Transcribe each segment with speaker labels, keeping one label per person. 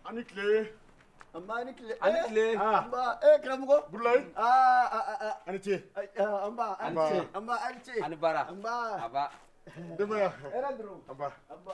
Speaker 1: a ni tile. a ma ni
Speaker 2: tile. a ni tile. an ba
Speaker 1: ee karamɔgɔ. burulayi. aa a a a. a ni ce. an ba a ni ce. an ba a ni ce. a ni baara. an ba.
Speaker 2: a ba.
Speaker 1: denbaya. hɛrɛ dɔrɔn. an ba.
Speaker 3: an ba.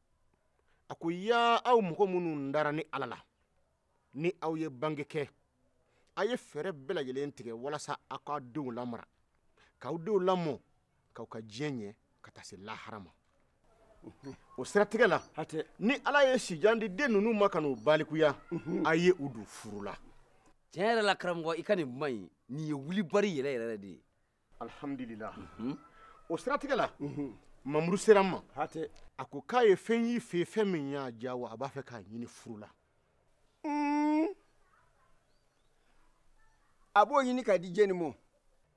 Speaker 1: a ko yaa aw mɔgɔ minnu dara ne ala la ni aw ye bange kɛ a ye fɛɛrɛ bɛɛ lajɛlen tigɛ walasa aw k'aw denw lamara k'aw denw lamɔ k'u ka diɲɛ ɲɛ ka taa se lahara ma o siratigɛ la ni ala ye sijan di den ninnu ma ka n'u balikuya mhm. a ye u don furu la tiɲɛ yɛrɛ la
Speaker 2: karamɔgɔ i ka nin kuma in nin ye wulibali yɛrɛ yɛrɛ de ye
Speaker 1: alhamdulila mhm. o siratigɛ la mhm. mamuru sera n ma a ko k'a ye fɛn y'i fɛ fɛn min y'a diya wa a b'a fɛ k'a ɲini furu la mm.
Speaker 3: a b'o ɲini k'a di jɛni ma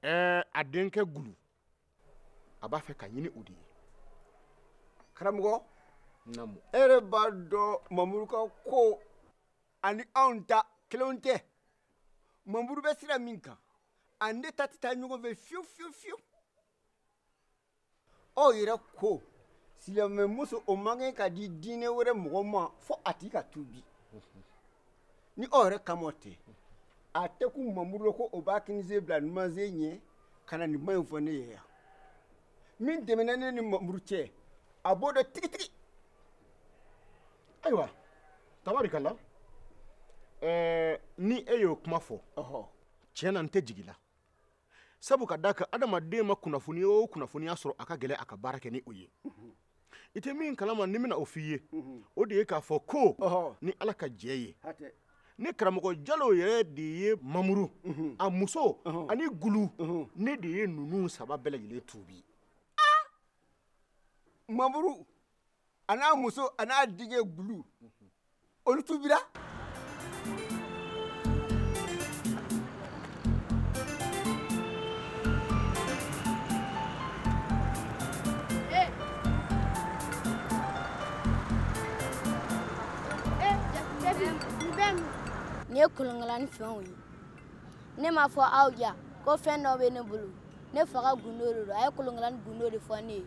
Speaker 3: ɛɛ
Speaker 1: a denkɛ gulu a b'a fɛ k'a ɲini o de
Speaker 3: ye
Speaker 1: karamɔgɔ naamu e yɛrɛ b'a
Speaker 3: dɔn mamuru ka ko ani anw ta kelenw tɛ mamuru bɛ sira min kan ani ne ta tɛ taa ɲɔgɔn fɛ fiyewu fiyewu fiyewu aw yɛrɛ ko silamɛmuso o man kan ka di diinɛ wɛrɛ mɔgɔ ma fo a tigi ka tuubi ni aw yɛrɛ kama o tɛ a tɛ kun mamuru la ko o b'a kininsen bila numansen ɲɛ ka na nin kuma in fɔ ne ye yan min tɛmɛna ne ni mamuru cɛ a b'o dɔn
Speaker 1: tigitigi ayiwa tabarikala ɛɛ ni e y'o kuma fɔ tiɲɛ na n tɛ jigi i la sabu ka d'a kan adamaden ma kunnafoni o kunnafoniya sɔrɔ a ka gɛlɛn a ka baara kɛ ni o ye i tɛ min kalama ne bɛna o f'i ye o de ye k'a fɔ ko ni ala ka jɛ ye ne karamɔgɔ jalo yɛrɛ de ye mamuru a muso ani gulu ne de ye ninnu saba bɛɛ lajɛlen tuubi
Speaker 3: mamuru a n'a muso a n'a denkɛ gulu olu
Speaker 4: tuubira nin ye kolonkalani fɛnw ye ne m'a fɔ aw ye ko fɛn dɔ bɛ ne bolo ne fa ka gundo de don a ye kolonkalani gundo de fɔ ne ye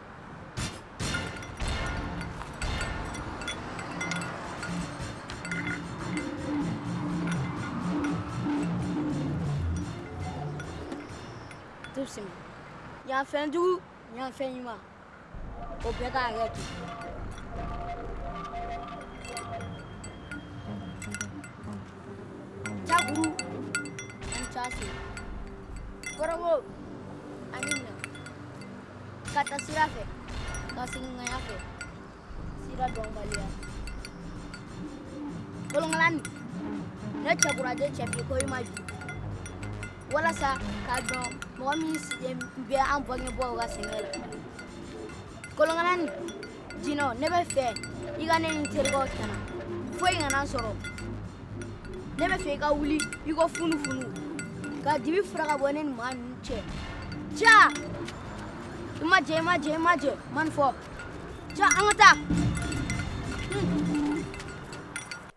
Speaker 4: Destin, yan fɛn jugu yan fɛn ɲuman o bɛɛ k'a yɛrɛ to caguru ani case kɔrɔbo ani ka taa sira fɛ ka segin ŋaya fɛ sira dɔnbaliya kolonkalani ne cɛkuraje cɛbi ko i ma ju walasa k'a dɔn mɔgɔ min sigilen bɛ an bangebaaw ka sɛgɛn la kolonkalani jinɔ ne bɛ fɛ i ka ne ni terikɛw tanga foyi kana sɔrɔ ne bɛ fɛ i ka wuli iko funufunu ka dibi furan ka bɔ ne ni maa ninnu cɛ ja i ma jɛ i ma jɛ i ma jɛ man fɔ ja an ka
Speaker 1: taa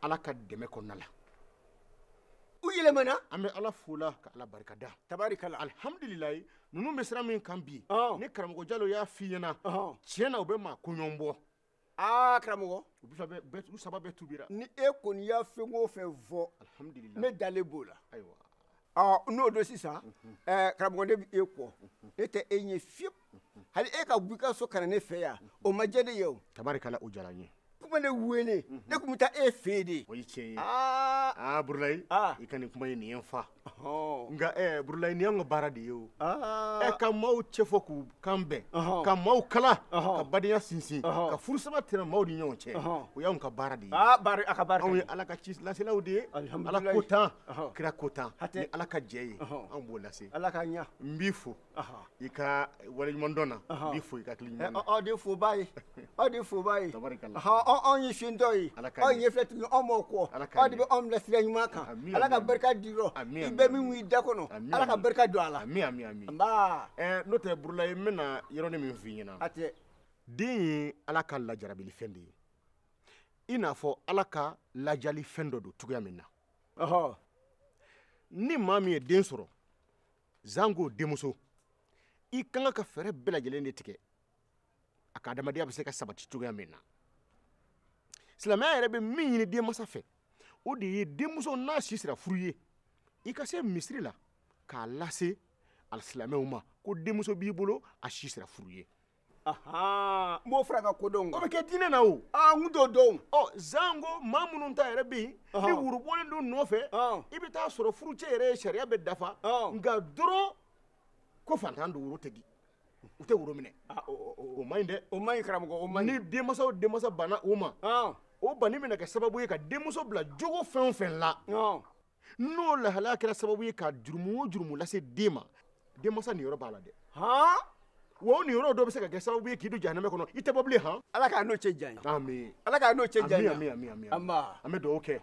Speaker 1: ala ka dɛmɛ kɔnɔna la
Speaker 3: u yɛlɛmana an bɛ ala fo la
Speaker 1: ka ala barikada tabarikala
Speaker 3: alhamdulilayi
Speaker 1: ninnu bɛ sira min kan bi ni karamɔgɔ jalo
Speaker 3: y'a
Speaker 1: f'i ɲɛna tiɲɛ na u
Speaker 3: bɛ
Speaker 1: maa koɲɔgɔn bɔ aa karamɔgɔ u saba bɛɛ tubira ni e kɔni y'a
Speaker 3: fɛn o fɛn fɔ ne
Speaker 1: dalen b'o la ayiwa n'o don
Speaker 3: sisan karamɔgɔ ne bɛ e kɔ ne tɛ e ɲɛ fiyewu hali e ka bɔ i ka so ka na ne fɛ yan o ma diya ne ye o tabarikala o diyara n ye
Speaker 1: tun ma ne
Speaker 3: wele ne tun bɛ taa e fɛ yen de o ye tiɲɛ
Speaker 1: ye aa
Speaker 3: burulayi
Speaker 1: i ka nin kuma in
Speaker 3: nin ye n
Speaker 1: fa nka ɛɛ
Speaker 3: burulayi nin y'an
Speaker 1: ka baara de ye o ɛ ka maaw
Speaker 3: cɛfɔ
Speaker 1: k'u kan bɛn ka maaw kala ka badenya sinsin ka furu sabati maaw ni ɲɔgɔn cɛ o y'anw ka baara de ye a ka baara anw
Speaker 3: ye ala ka ci laselaw
Speaker 1: de ye ala ko tan kira ko tan
Speaker 3: ni
Speaker 1: ala ka jɛ ye anw b'o lase ala
Speaker 3: k'a
Speaker 1: ɲa n b'i
Speaker 3: fo
Speaker 1: i ka waleɲumandɔn na n b'i fo i ka hakili
Speaker 3: ɲuman na
Speaker 1: aw de foba
Speaker 3: ye aw de foba ye anw
Speaker 1: ye
Speaker 3: fiyentɔ ye aw ye ɲɛfilɛtigi ye
Speaker 1: anw b'aw
Speaker 3: kɔ aw de bɛ anw bila
Speaker 1: sira ɲuman kan
Speaker 3: ala ka barika d'i
Speaker 1: rɔ i
Speaker 3: bɛɛ min b'i da
Speaker 1: kɔnɔ ala
Speaker 3: ka barika don a
Speaker 1: la nba
Speaker 3: n'o tɛ
Speaker 1: burulayi n bɛna yɔrɔnin min f'i ɲɛna hatɛ
Speaker 3: den
Speaker 1: ye ala ka lajarabilifɛn de ye i n'a fɔ ala ka lajalifɛn dɔ don cogoya min na ni maa min ye den sɔrɔ zango denmuso i ka kan ka fɛɛrɛ bɛɛ lajɛlen de tigɛ a ka adamadenya bɛ se ka sabati cogoya min na silamɛya yɛrɛ bɛ min ɲini denmansa fɛ o de ye denmuso n'a si sera furu ye i ka se misiri la k'a lase alisilamɛw ma ko denmuso b'i bolo a si sera furu ye
Speaker 3: ahan n b'o fara ka kodɔn kan o bɛ kɛ diinɛ na
Speaker 1: o aa n t'o dɔn
Speaker 3: ɔ zanko
Speaker 1: maa minnu ta yɛrɛ bɛ yen ni woro bɔlen don nɔfɛ i bɛ taa sɔrɔ furucɛ yɛrɛ ye sariya bɛɛ dafa nka dɔrɔn ko fantan don woro tɛ di u tɛ woro minɛ o man ɲi dɛ o man ɲi karamɔgɔ o
Speaker 3: man ɲi ni denmansa o denmansa banna
Speaker 1: o ma o banni bɛna kɛ sababu ye ka denmuso bila jogo fɛn o fɛn la n'o lahalaya kɛra sababu ye ka jurumu o jurumu lase den ma denmansa niyɔrɔ b'a la dɛ han wa o niyɔrɔ dɔ bɛ se ka kɛ sababu ye k'i don jahanamɛ kɔnɔ i tɛ bɔ bilen han ala k'an n'o cɛ janya
Speaker 3: amin ala k'an n'o cɛ janya amin amin amin nba
Speaker 1: an bɛ dugawu kɛ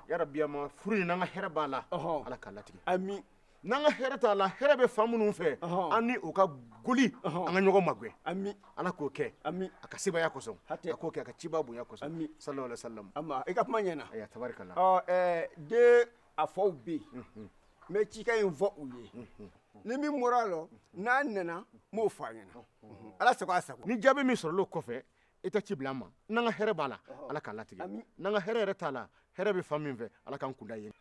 Speaker 1: yarabi an ma furu in n'an ka hɛrɛ b'a la ala k'a latigɛ amin n'an ka
Speaker 3: hɛrɛ t'a
Speaker 1: la hɛrɛ bɛ fan minnu fɛ an ni o ka goli an ka ɲɔgɔn magɛn amin ala k'o
Speaker 3: kɛ
Speaker 1: ami a ka
Speaker 3: sebaya
Speaker 1: kosɔn a k'o kɛ a ka ciba bonya kosɔn ami sallallahu
Speaker 3: alaihi wasallam
Speaker 1: ama i ka kuma ɲɛna
Speaker 3: aya tabarikala ɔ
Speaker 1: ɛɛ
Speaker 3: den a faw bɛ yen n mhm. bɛ cikan in fɔ u ye mhm. ni min bɔra a lɔ n'a nana n b'o fɔ a ɲɛna mhm. ala sago a sago ni jaabi min sɔrɔla
Speaker 1: o kɔfɛ i tɛ ci bila n ma n'an ka hɛrɛ b'a la ala k'a latigɛ n'an ka hɛrɛ yɛrɛ t'a
Speaker 3: la
Speaker 1: hɛrɛ bɛ fan min fɛ ala k'an kun da yen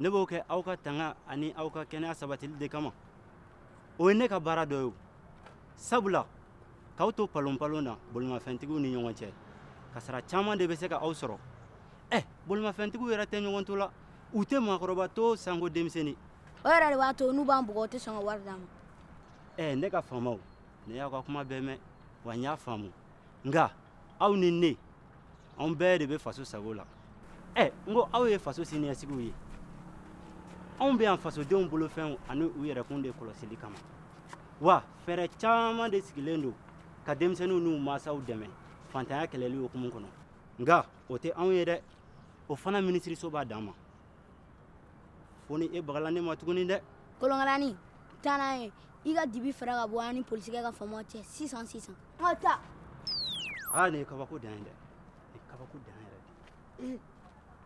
Speaker 5: ne b'o kɛ aw ka tanga ani aw ka kɛnɛya sabatili de kama o ye ne ka baara dɔ ye sabula k'aw to palonpalon na bolimafɛntigiw ni ɲɔgɔn cɛ kasara caman de bɛ se ka aw sɔrɔ ɛ eh, bolimafɛntigiw yɛrɛ tɛ ɲɔgɔn to la u tɛ maakɔrɔba to sanko denmisɛnnin o yɛrɛ de b'a to
Speaker 4: n'u b'an bugɔ u tɛ sɔn ka wari d'an ma ɛ eh, ne ka faamaw
Speaker 5: ne y'aw ka kuma bɛɛ mɛn wa n y'a faamu nka aw ni ne anw bɛɛ de bɛ faso sago la ɛ n ko aw ye faso siniɲɛsigiw ye anw bɛ yan fasodenw bolofɛnw ani u yɛrɛkun de kɔlɔsili kama wa fɛɛrɛ caman de sigilen don ka denmisɛnninw n'u mansaw dɛmɛ fantanya kɛlɛli hukumu kɔnɔ nka o tɛ anw ye dɛ o fana minisiriso b'a danma fo ni e bagala ne ma tuguni dɛ
Speaker 4: kolonkalani taa n'a ye i ka dibi fara ka bɔ an ni polisikɛ ka faamaw cɛ sisan sisan an ka taa
Speaker 5: aa ah, nin ye kabako dan ye dɛ nin kabako dan yɛrɛ de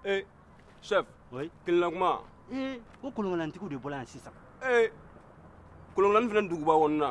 Speaker 6: ee chef oui kelenna kuma ee ko
Speaker 5: kolonkalantigiw
Speaker 6: de bɔla
Speaker 5: yan sisan ee
Speaker 6: kolonkalani
Speaker 5: fana
Speaker 6: duguba
Speaker 5: kɔnɔna